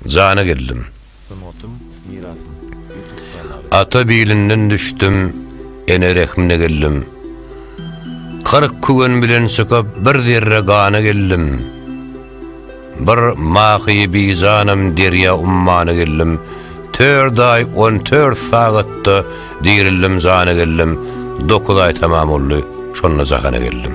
Jana geldim. Sungatym, mirasym. Ýutub kanaly. Ata bilinden düşdüm, ene rehmine geldim. Kyrk küwen bilen çykyp bir zerre gana geldim. Bir mahy bijanam derýa ummana geldim. Tört aý on tört sagatda dirildim jana geldim. Dokuz aý tamam boldy, şonda jahana geldim.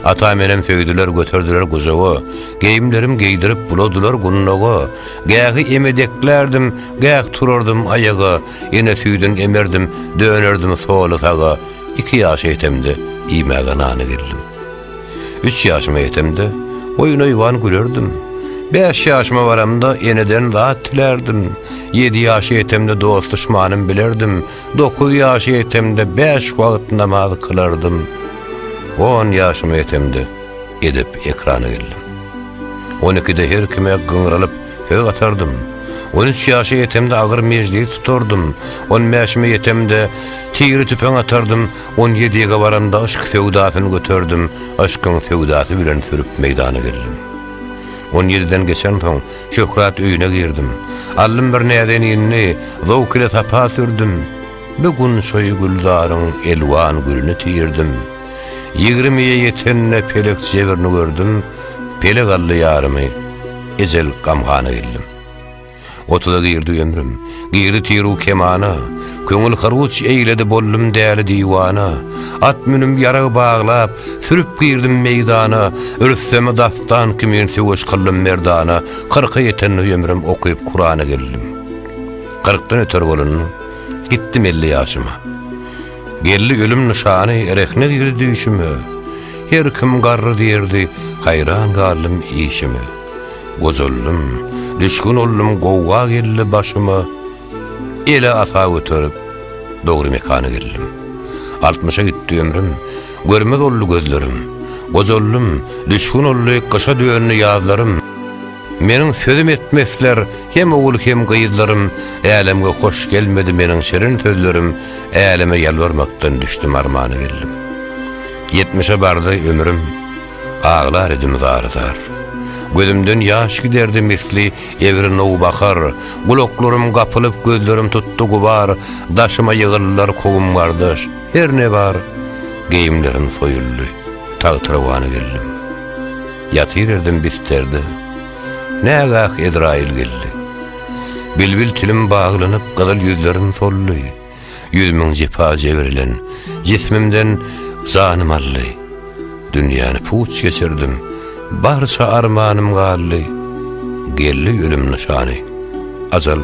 Ata menem söýdüler göterdiler gujaga, Geýimlerim geýdirip buladylar gunnaga, Gähi emedeklerdim, gäh turardym aýaga, Ene süýdün emerdim, dönerdim soly-saga. Iki ýaşa ýetemde, iýmäge nana geldim. Üç ýaşyma ýetemde, oýun-oýban gülerdim. Bäş ýaşyma baramda, eneden zat dilärdim. Ýedi ýaşa ýetemde dost-duşmanym bilerdim. Dokuz ýaşa ýetemde bäş wagt namaz kylardym. On ýaşyma ýetemde edep ekrana geldim. On ikide her kime gyňralyp söz gatardym. On üç ýaşa ýetemde agyr mejlis tutardym. On bäşime ýetemde tigri tüpeň atardym. On ýedide baramda yşk söwdasyny göterdim. Yşkyň söwdasy bilen sürüp meýdana geldim. On ýediden geçensoň, Şöhrat öýüne girdim. Aldym bir näzen ýenini, zowk ile sapa sürdüm. Bir gün şoý gülzaryň elwan gülüni tirdim. Ýigrimije ýetende pelek jebrini gördüm, Pelek aldy ýarymy, ejel gamgana geldim. Otuza girdi ömrüm. Girdi tiru kemana, Köňül hyruç eýledi boldum däli diwana, At münüm ýarag baglap, sürüp girdim meýdana, Rüstemi dastan kimin söweş kyldym merdana, Kyrka ýetende ömrüm okyp Kurana geldim. Kyrkdan öter bolanda, gitdim elli ýaşyma, Geldi ölüm nyşany, rehne girdi düýşüme, Her kim garry diýerdi, haýran galdym işime. Gojaldym, düşgün oldum gowga geldi başyma, Ele asa göterip, dogry mekana geldim. Altmyşa gitdi ömrüm, görmez oldy gözlerim, Gojaldym, düşgün oldy gyşa döndi ýazlarym. Meniň sözüm etmesler hem ogul hem gyzlarym, Älemge hoş gelmedi meniň şirin sözlerim, Äleme ýalbarmakdan düşdüm armana geldim. Ýetmişe bardy ömrüm, Aglar edim zar-zar. Gözümden ýaş giderdi misli egri nowbahar, Gulaklarym gapylyp, gözlerim tutdy gubar, Daşyma ýygyldylar kowum-gardaş, her ne bar, Geýimlerim soýuldy, tagtyrawana geldim. Ýatyr erdim bisterde, nägah Ezraýyl geldi. Bilbil tilim baglanyp, gyzyl ýüzlerim soldy. Ýüz müň jepa jebirlen, jismimden janym aldy. Dünýäni puç geçirdim, barça armanym galdy. Geldi ölüm nyşany, ajal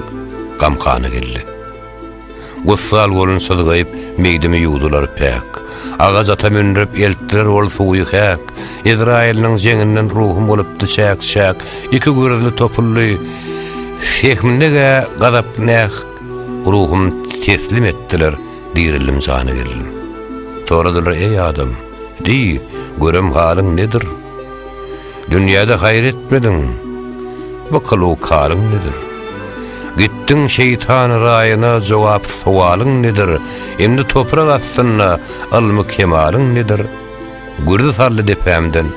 gamhana geldi. Gussal bolun syzgaýyp, meýdimi ýuwdular päk. Agaç ata münrip, eltdiler ol suwy häk. Ezraýylynyň jeňinden ruhum bolupdy çäk-çäk. Iki gürzli topuldy, fehminde-gä gazap-näh. Ruhum teslim etdiler, dirildim jana geldim. Soradylar, eý adam, diý, görem halyň nedir? Dünýäde haýyr etmediň, bu kylyk halyň nedir? Gitdiň şeýtan raýyna, jogap sowalyň nedir? Indi toprak astynda ylmy kemalyň nedir? Gürzi saldy depämden,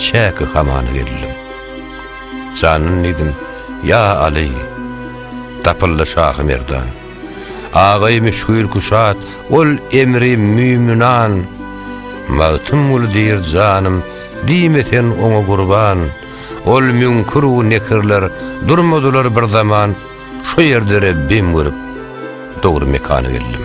çäki hamana geldim. Janyn diýdim, ýa Aly! Tapyldy şahy merdan. Agaý müşgil küşat, ol emri müýmünan. Magtymguly diýr janym, diýme sen oňa gurban. Ol müňkür-u nekirler, durmadylar bir zaman. Şo ýerde Rebbim görüp, dogry mekana geldim.